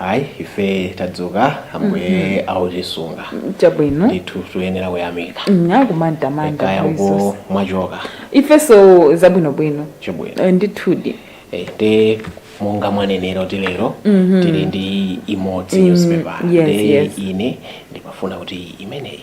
ayi ife tadzuka ambuye autisunga chabwino ndithu tuyenera kuyamika Mm, akumantamanda kaya uko mwachoka ifenso zabwinobwino chabwino Eh, ndithudi Eh, nde monga mwanenera kuti lero tili ndi imodzi newspaper yes, Nde yes. ine ndimafuna kuti imeneyi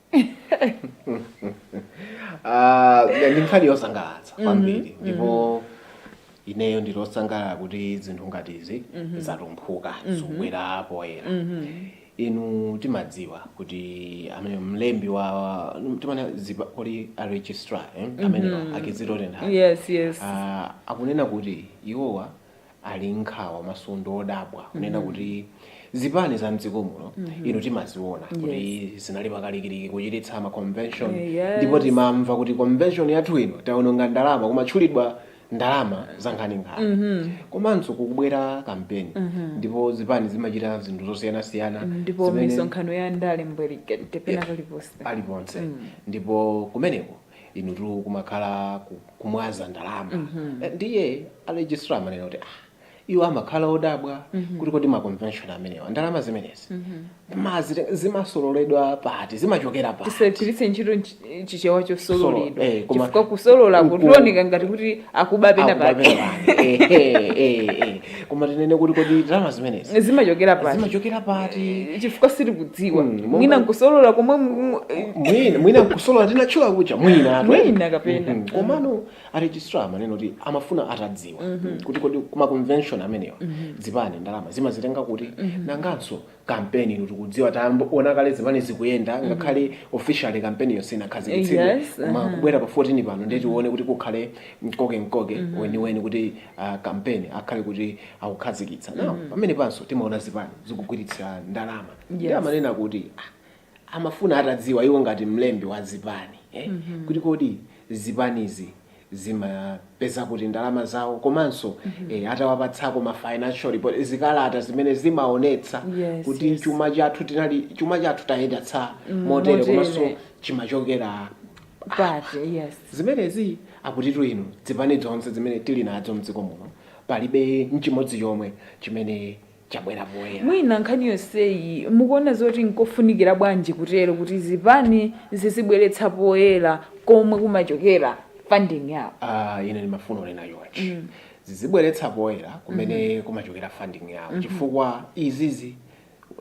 Ah, ndi nkhani yosangalatsa kwambiri ndipo ineyo ndili osangalala kuti zinthu ngati izi zatumphuka zikubwera poyera inu timadziwa kuti amene mlembi wa timanena kuti a registrar eh? amene a Kizito Tenthani yes yes Ah, akunena kuti iwowa ali nkhawa komanso ndi odabwa kunena mm -hmm. kuti zipani za mdziko muno mm -hmm. inu timaziona yes. kuti zinali pakalikiliki kuchititsa ma convention yes. ndipo timamva kuti convention yathu ino taononga ndalama kumatchulidwa ndalama za nkhaninkhani mm -hmm. komanso kukubwera kampeni mm -hmm. ndipo zipani zimachita zinthu zosiyanasiyana ndipo misonkhano ya ndale mbwerekete pena paliponse paliponse mm. ndipo kumeneko inutu kumakhala ku- kumwaza ndalama Eh, ndiye aregistrar amanena kuti ah, iwo amakhala odabwa kuti kodi ma convention amenewa ndalama zimenezi mazite- zimasololedwa pati zimachokera pati tisagwiritse ntchito nchi- chichewa Solo, chosololedwa eh, koma- chifukwa kusolola uku- kutioneka ngati kuti akuba pena Akuba pake penapake. Eh, eh, eh, eh. koma tinene kuti kodi ndalama zimenezi zimachokera pati zimachokera pati chifukwa sitikudziwa Mm, monga- mwina nkusolola komwe mu- mu- eh, mwina nkusolola tinatchula kucha mwina atu. Mwina kapena. Mhm. komano aregistrar amanena kuti amafuna atadziwa kuti kodi kuma convention amenewa zipani ndalama zimazitenga kuti nanganso campaign ino tikudziwa taona kale zipani zikuyenda ngakhale officially campaign yo sinakhazikitsidwe Yes, koma aha. kubwera pa 14 pano ndiye tione kuti kukhale mkokemkoke weniweni kuti ah, campaign akhale kuti akukhazikitsa nawo pamene panso timaona zipani zikugwiritsa ndalama ndiye amanena kuti ah, amafuna atadziwa iwo ngati mlembi wa zipani eh? mm -hmm. kuti kodi zipanizi zimapeza kuti ndalama zawo komanso mm -hmm. eh, atawapatsako ma financial report zikalata zimene zimaonetsa yes, kuti yes. chuma chathu tinali chuma chathu tayendetsa mm, motere komanso chimachokera pati yes zimenezi akutitu inu zipani zonse zimene tili nazo mdziko muno palibe nchimodzi chomwe chimene chabwera poyera. Mwina nkhani yonseyi mukuona zoti nkofunikira bwanji kutero kuti zipani zizibweretsa poyera komwe kumachokera funding yawo? Ah, ine ndimafuna kunena chonchi zizibweretsa poyera kumene kumachokera funding yawo chifukwa izizi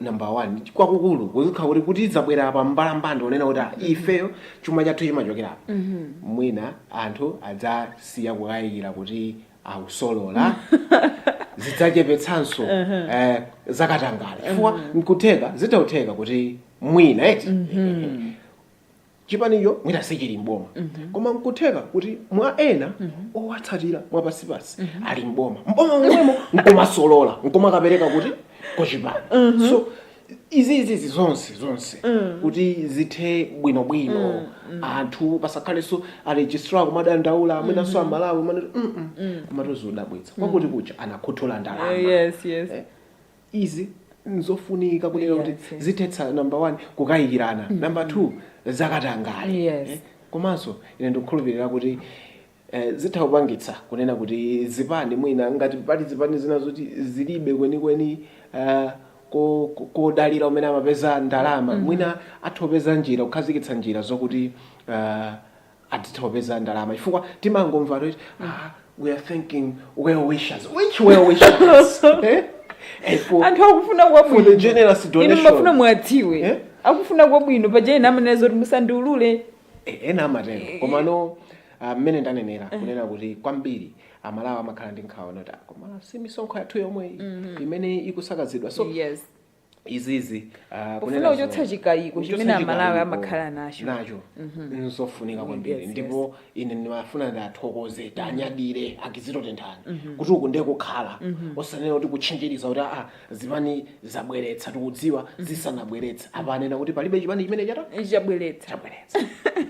number one kwakukulu kuzikhala kuti zabwera pa mbalambanda kunena kuti ah, ifeyo chuma chathu chimachokera apa mwina anthu adzasiya kukayikira kuti akusolola zidzachepetsanso eh, zakatangale chifukwa nkutheka zitautheka kuti mwina eti chipanicho mwina sichili mboma koma nkutheka kuti mwa ena owatsatira mwapansipansi ali mboma mboma mwemo nkumasolola nkumakapereka kuti kuchipani so izi izi izi zonse zonse kuti zithe bwinobwino anthu pasakhalenso aregistrar kumadandaula mwinanso amalawi mmene kumangodabwitsidwa kwakuti kuja anakhuthula ndalama Eh, yes yes Eh, izi nzofunika kunena kuti Yes, yes. zithetsa number one kukayikirana number two zakatangale Yes. Eh, komanso ine ndikukhulupirira kuti E, zitha kupangitsa kunena kuti zipani mwina ngati pali zipani zina zoti zilibe kwenikweni a, ko, ko, kodalira kumene amapeza ndalama, mwina atha kupeza njira, kukhazikitsa njira zokuti a, adzitha kupeza ndalama chifukwa timangomva kuti a, we are thanking well wishers, which well wishers? Eh? Eh, for- Anthu akufuna for the kwabwino. generous Inu donation. mumafuna muwadziwe. Eh? Akufuna kwabwino paja ena amanena zoti musandiulule. Eh, ena amatero komano Ah, mmene ndanenera Eh. kunena kuti kwambiri amalawi amakhala ndi nkhawa kunena kuti "Ah, koma si misonkho yathu yomwe iyi imene ikusakazidwa so yes izizi ah, Kufuna kunena kuchotsa zo- chikayiko kuchotsa chimene Amalawi chikayiko amakhala nacho. nacho nzofunika kwambiri Yes, ndipo ine ndimafuna ndiwathokoze tiwanyadire a kizito tenthani kuti uku ndiye kukhala osanena kuti kutchinjiriza kuti aa zipani zabweretsa tikudziwa zisanabweretse apa anena kuti palibe chipani chimene chata chabweretsa chabweretsa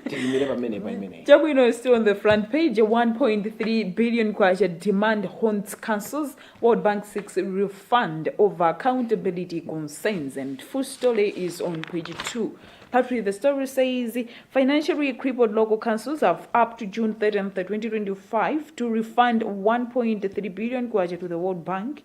tiyimire pamenepa imeneyi Chabwino still on the front page. A 1.3 billion kwacha demand haunts councils. World Bank seeks refund over accountability concerns. And full story is on page 2. Patrick, the story says financially crippled local councils have up to June 30th, 2025 to refund 1.3 billion kwacha to the World Bank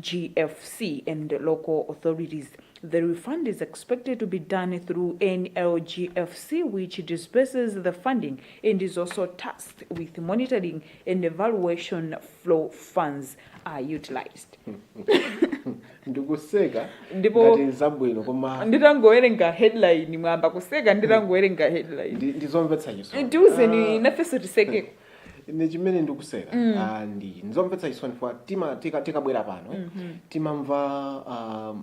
GFC and local authorities. The refund is expected to be done through NLGFC which disburses the funding and is also tasked with monitoring and evaluation of how funds are utilized. ndikuseka Ndipo- ngati zabwino koma Nditangowerenga headline mwayamba kuseka nditangowerenga headline. ndi- ndizomvetsa chisoni Ndiuzeni nafeso tisekeko. ine chimene ndikuseka ah, ndi ndizomvetsa chisoni chifukwa tima tika- tikabwera pano timamva ah,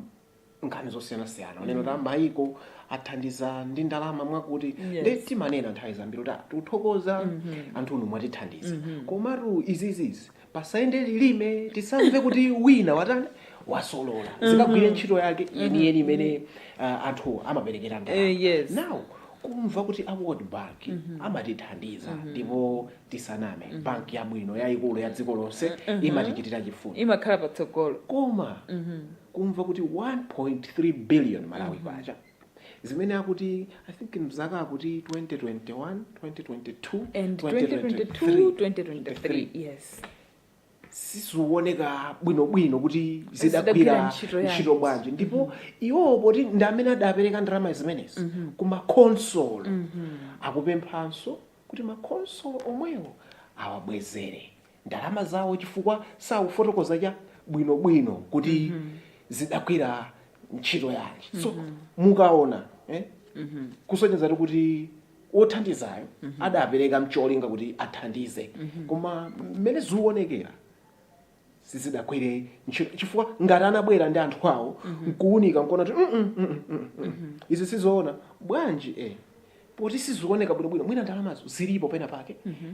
nkhani zosiyanasiyana kunena kuti mayiko athandiza ndi ndalama mwakuti Yes. nde timanena nthawi zambiri kuti tikuthokoza anthu inu mwatithandiza komatu izizizi pasayende ulime tisamve kuti wina watani wasolola zikagwire ntchito yake yeniyeni imene uh, anthu amaperekera ndalama. Eh, yes. now kumva kuti a world bank amatithandiza ndipo tisaname banki yabwino yayikulu ya dziko lonse imatichitira chifundo imakhala patsogolo koma kumva kuti 1.3 billion malawi kwacha zimene akuti i think mzaka akuti 2021 2022 and 2022 2023 yes sizioneka bwinobwino kuti zidagwira ntchito bwanji ndipo iwowo poti ndi amene adapereka ndalama zimenezi ku makonsolo akupemphanso kuti makonsolo omwewo awabwezere ndalama zawo chifukwa sakufotokoza cha bwino bwino kuti mm -hmm. zidagwira ntchito yanji so mm -hmm. mukaona eh? mm -hmm. kusonyeza kuti wothandizayo mm -hmm. adapereka mcholinga kuti athandize mm -hmm. koma mmene zikuonekera sizidagwire ntchito chifukwa ngati anabwera ndi anthu awo mm -hmm. nkuunika nkuona kuti mm -mm, mm -mm, mm -mm. izi sizoona bwanji eh poti sizikuoneka bwinobwino mwina ndalamazo zilipo pena pake mm -hmm.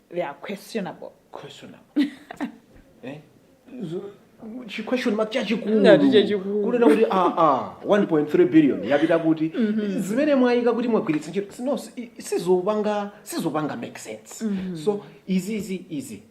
they are questionable questionable eh Zo- chi question mark chachikulu Ngati chachikulu. kunena kuti ah ah 1.3 billion yapita kuti zimene mwayika kuti mwagwiritsa ntchito si- no si- sizopanga sizopanga make sense so izi izi izi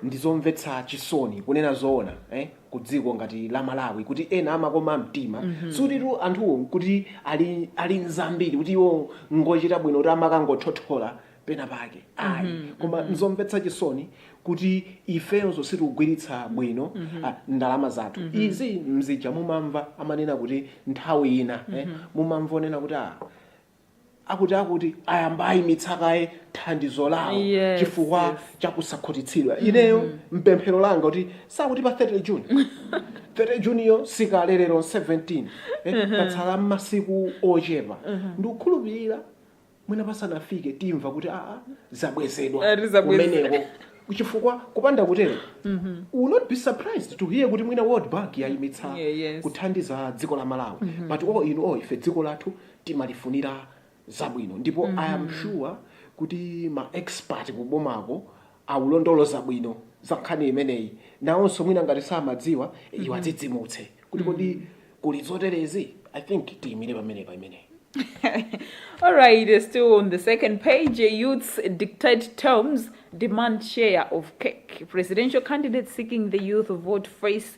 ndizomvetsa chisoni kunena zoona eh ku dziko ngati la malawi kuti ena amakoma mtima sutitu anthuwo kuti ali ali nzambiri kuti iwo ngochita bwino kuti amakangothothola pena pake ayi mm -hmm, koma mm -hmm. nzomvetsa chisoni kuti ifenso sitikugwiritsa bwino mm -hmm. ndalama zathu mm -hmm. izi mzija mumamva amanena kuti nthawi ina mm -hmm. eh, mumamva onena kuti ah, akuti akuti ayamba ayimitsa kaye thandizo lawo yes, chifukwa yes. chakusakhutitsidwa mm -hmm. ineyo mpemphero langa kuti sakuti pa 30 june 30 juniyo sikale lero 17 eh, patsala masiku ochepa mm -hmm. ndikukhulupirira mwina pasanafike timva kuti aa zabwezedwa Eh, tizabweze. kumeneko chifukwa kupanda kutero we'll not be surprised to hear kuti mwina world bank yayimitsa Yeah, yes. kuthandiza dziko la malawi but all in all ife dziko lathu timalifunira zabwino ndipo i am sure kuti ma expert kubomako aulondoloza bwino za nkhani imeneyi nawonso mwina ngati samadziwa iwo adzidzimutse kuti kodi kuli zoterezi i think tiyimire pamenepa imeneyi All right, uh, still on the second page, uh, youths dictate terms, demand share of cake. Presidential candidates seeking the youth vote face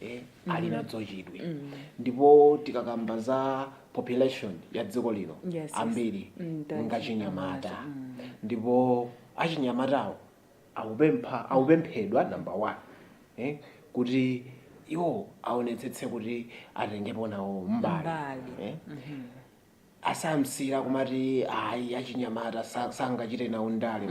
eh, ali nadzo chidwi ndipo tikakamba za population ya dziko lino Yes, yes. ambiri Mm, thank you. ngachinyamata ndipo achinyamatawo akupempha akupemphedwa number one eh, kuti iwo aonetsetse kuti atengepo nawo mbali Mbali. eh. asamachite kumati ayi achinyamata sa- sangachite nawo ndale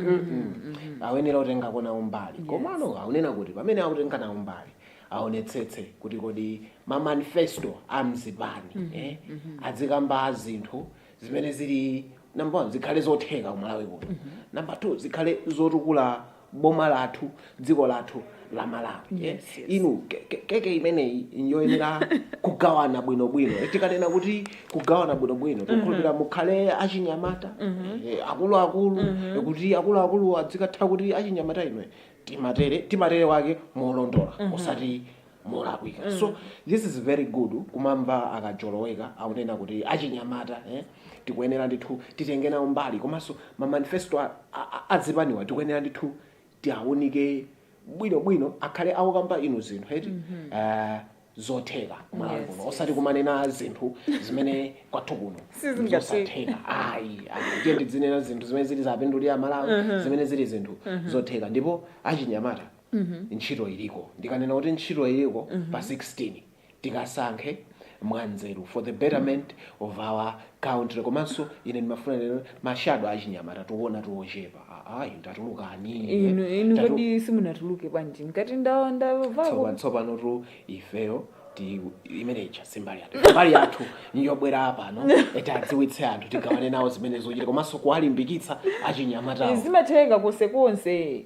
ayenera kutengako nawo mbali komano akunena kuti pamene akutenga nawo mbali aonetsetse kuti kodi mamanifesto a mzipani eh, adzikamba zinthu zimene zili number one zikhale zotheka kumalawi kuno number two zikhale zotukula boma lathu dziko lathu la malawi eh? Yes, yes. inu ke- ke- keke imeneyi njoyenera kugawana bwinobwino Eh, tikanena kuti kugawana bwinobwino tikukhulupira mukhale achinyamata eh, akuluakulu eh, kuti akuluakulu adzikatha kuti achinyamata inu timatere timatere wake molondola osati molakwika so this is very good kumamva akajoloweka akunena kuti achinyamata eh, tikuyenera ndithu titenge nawo mbali komanso mamanifesto a- a- a- azipaniwa tikuyenera ndithu tiaunike bwino bwino akhale akukamba inu zinthu eti Eh, zotheka kumalawi Yes, kuno osati kumanena zinthu zimene kwathu kuno Sizingatheka. zosatheka ayi ayi. ndiye tidzinena zinthu zimene zili zopindulira malawi zimene zili zinthu zotheka ndipo achinyamata ntchito iliko. Ndikanena kuti ntchito iliko pa 16, tikasankhe mwanzeru for the betterment of our country komanso ine ndimafuna ndinene kuti ma shadow achinyamata tikuona tili ochepa. Ayi tatulukani. Inu, inu Tatu- kodi simunatuluke bwanji? Ngati ndawa ndawa vako. Tsopa- tsopanotu ifeyo ti imene ija simbali yathu mbali yathu njobwera apano eti tidziwitse anthu tigawane nawo zimene zochita komanso kuwalimbikitsa achinyamatawo Zimatheka konse konse.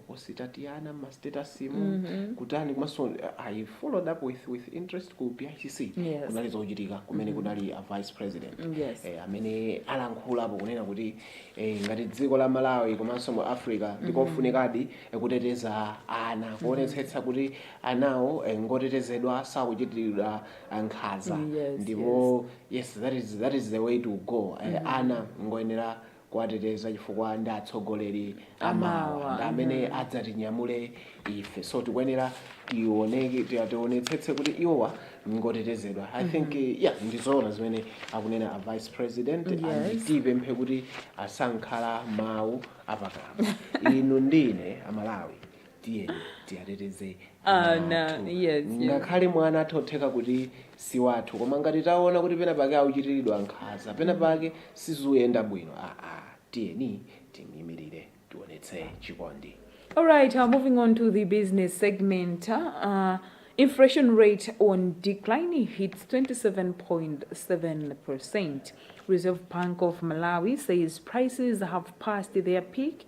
ositatiana mma status mu mm -hmm. kutani komanso uh, i followed up with, with interest ku picc yes. kunali zochitika kumene mm -hmm. kunali a vice president mm, yes. eh, amene alankhulapo kunena kuti eh, ngati dziko la malawi komanso mu africa mm-hmm. ndikofunikadi mm -hmm. kuteteza ana mm-hmm. kuonetsetsa mm -hmm. kuti anawo eh, ngotetezedwa sakuchitiridwa uh, nkhanza mm, yes, ndipo yes. yes that is, that is the way to go eh, mm -hmm. ana ngoyenera kuwateteza chifukwa ndi atsogoleri a mawa ndi amene adzatinyamule ife so tikuyenera tioneke tia- tionetsetse kuti iwowa ngotetezedwa i think eh, yeah ndizoona zimene akunena a vice president and Yes. tipemphe kuti asangokhala mawu apakamwa inu ndine amalawi tiyeni tiyateteze Ana, ana athu. yes, yes. ngakhale mwana n'zotheka kuti si wathu koma ngati taona kuti pena pake akuchitiridwa nkhaza pena pake sizikuyenda bwino aa tiyeni timyimirire tionetse chikondi All right, uh, moving on to the business segment. Uh, uh, inflation rate on decline hits 27.7%. Reserve Bank of Malawi says prices have passed their peak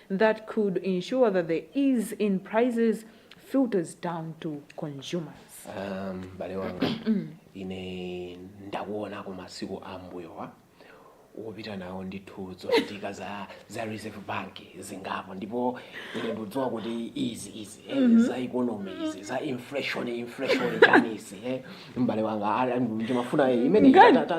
that could ensure that the ease in prices filters down to consumers. Ah, m'bale wanga ine ndakuonani masiku ambuyowa wopita nawo ndithu zochitika za za reserve bank zingapo ndipo ine ndikudziwa kuti izi izi eh, mhm. za economy izi za inflation inflation chani izi eh. mbale wanga ndimafuna eh, imene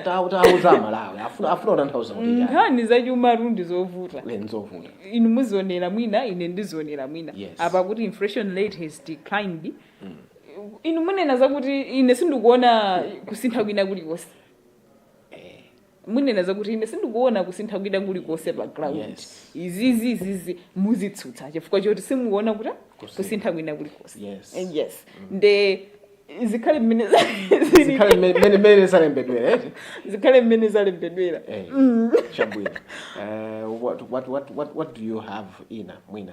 tauza amalawi afuna afuna utanthauza kuti chani nkhani za chumatu ndi zovuta eh, nzovuta inu muzionera mwina ine ndizionera mwina yes. apa kuti inflation rate has declined mm. inu munena zakuti ine sindikuona kusintha kwina kulikonse munena zakuti ine sindikuona kusintha kwina kulikonse pa ground Yes. izizi izizi muzitsutsa chifukwa choti simukuona kuti Kusintha. kusintha kwina kulikonse Yes. Eh, yes nde zikhale mmene za- zili- zikhale mmene- mmene mmene zalembedwera eti zikhale mmene zalembedwera Eh, chabwino Eh, what, what, what, what, what do you have ina mwina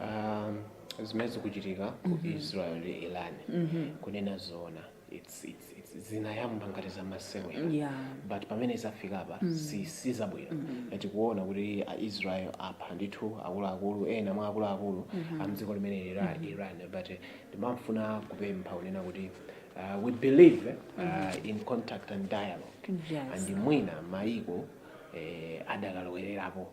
Um, zimene zikuchitika ku mm-hmm. Israel ndi Iran mm-hmm. kunena zoona it's, it's, it's zinayamba ngati zamasewera yeah. but pamene zafika apa mm. si, si zabwino mm -hmm. tikuona kuti aisrael apha ndithu akuluakulu ena mwa akuluakulu mm -hmm. amdziko limene lija mm -hmm. iran but eh, ndimafuna kupempha kunena kuti uh, we believe uh, mm -hmm. in contact and dialogue yes. and mwina maiko eh, adakalowererapo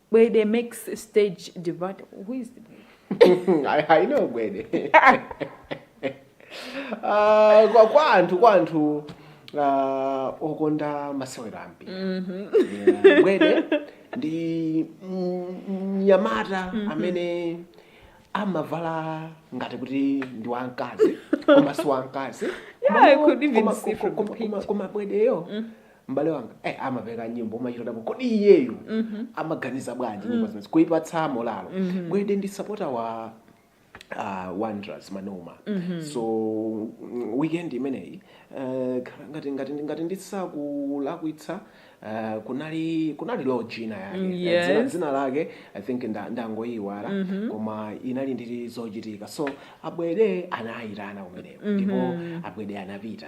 Gwede makes stage debut. Who is the I, I know gwede Ah, kwa kwa anthu kwa anthu ah, okonda masewero ambiri Yeah, gwede ndi mm, mnyamata amene amavala ngati kuti ndi wamkazi koma si wamkazi Yeah, I could even see from the picture. koma Gwedeyo m'bale wanga eh, amapeka nyimbo umachita kudabwa kodi iyeyo amaganiza bwanji nyimbo zimezi kuipatsa moralo gwede ndi sapota wa uh, wanderers manoma so mm, weekend imeneyi uh, khala ngati ngati ngati ndisakulakwitsa uh, kunali kunali lodge ina yake Mm, Eh, dzina, yes. dzina lake i think nda- ndangoyiwala koma inali ndi zochitika so a Gwede anayitana kumeneko ndipo a Gwede anapita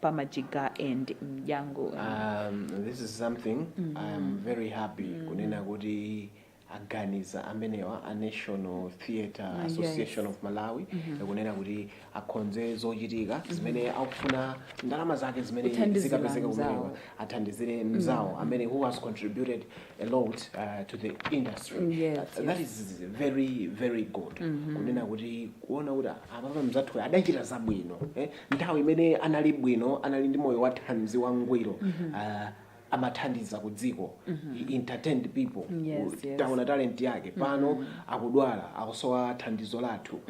Pamajiga and mdyangu um, this is something mm -hmm. i'm very happy mm -hmm. kunena kuti aganiza amenewa a national theatre ah, association yes. of malawi mm -hmm. kunena kuti akhonze zochitika mm -hmm. zimene akufuna ndalama zake zimene zikapezeka kumenewa athandizire mm. mzawo mm -hmm. amene who has contributed a lot uh, to the industry mm, yes, uh, that yes. is very very good mm -hmm. kunena kuti kuona kuti apapa mzathu adachita zabwino eh? nthawi imene anali bwino anali ndi moyo wathanzi wangwiro ah, amathandiza ku dziko He entertained people Yes, yes. taona talent yake pano akudwala akusowa thandizo lathu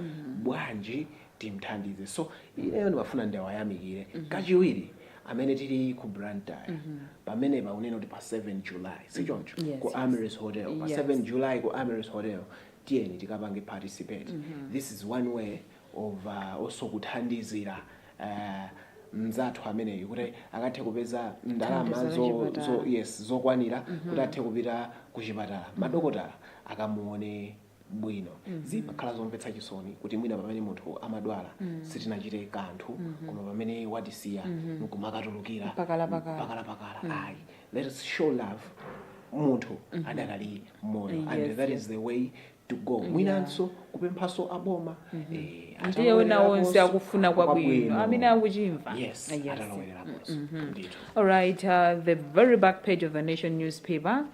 bwanji timthandize so ineyo ndimafuna ndiwayamikire kachiwiri amene tili ku blantyre pamene paunena kuti pa 7 july sichoncho Yes, ku yes. Amaryllis hotel pa Yes. 7 july ku Amaryllis hotel tiyeni tikapange participate this is one way of also kuthandizira mzathu ameneyu kuti akathe kupeza ndalama zo, zo, yes zokwanira mm -hmm. kuti athe kupita ku chipatala mm -hmm. madokotala akamuone bwino mm -hmm. zimakhala zomvetsa chisoni kuti mwina pamene munthu amadwala mm -hmm. sitinachite kanthu mm -hmm. koma pamene watisiya mm -hmm. nkumakatulukira pakalapakala mm -hmm. ayi let us show love munthu mm -hmm. adakali moyo yes, and that yes. is the way to go Yeah. mwinanso kupemphanso aboma eh, ndiye ena onse akufuna kwabwino kwabwino. amene akuchimva yes Yes. atalowereraponso ndithu All right, uh, the very back page of the Nation newspaper.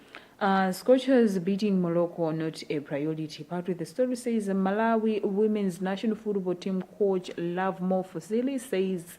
Uh, Scorchers beating Morocco, not a priority. Part of the story says Malawi women's national football team coach Lovemore Fazili says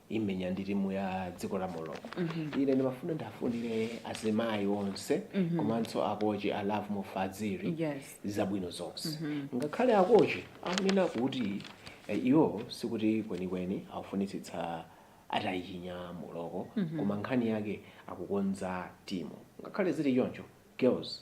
imenya ndi timu ya dziko la morocco ine ndimafuna ndiwafunire azimayi onse komanso akochi a Lovemore Fazili Yes. zabwino zonse ngakhale akochi akunena kuti eh, iwo sikuti kwenikweni akufunitsitsa atayichinya morocco koma nkhani yake akukonza timu ngakhale zili choncho girls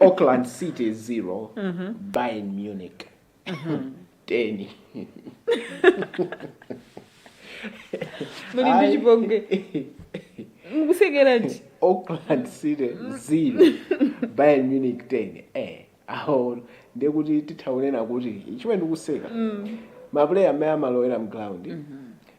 auckland city 0 bayern munich 10 muli ndi Ayi. chipongwe mukusekeranji auckland city 0 bayern munich 10 eh aho ndekuti titha kunena kuti chimene ndikuseka mapuleya amene amalowera mground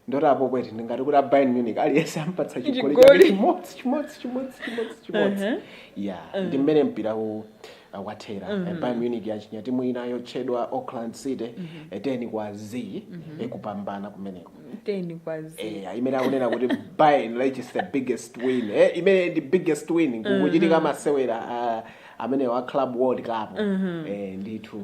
ndoti apo kweti ndingati kuti a bayern munich aliyense ampatsa chigoli Chigoli. chake chimodzi chimodzi chimodzi chimodzi chimodzi Aha. ya ndi mmene mpira u uh, wathera Eh, bayern munich yachinya timu ina yotchedwa auckland city eh, 10 kwa z ikupambana kumeneko 10 kwa z Eh, imene akunena kuti bayern reaches the biggest win eh, imene ndi biggest win kukuchitika masewera ah, amenewo a club world cup eh, ndithu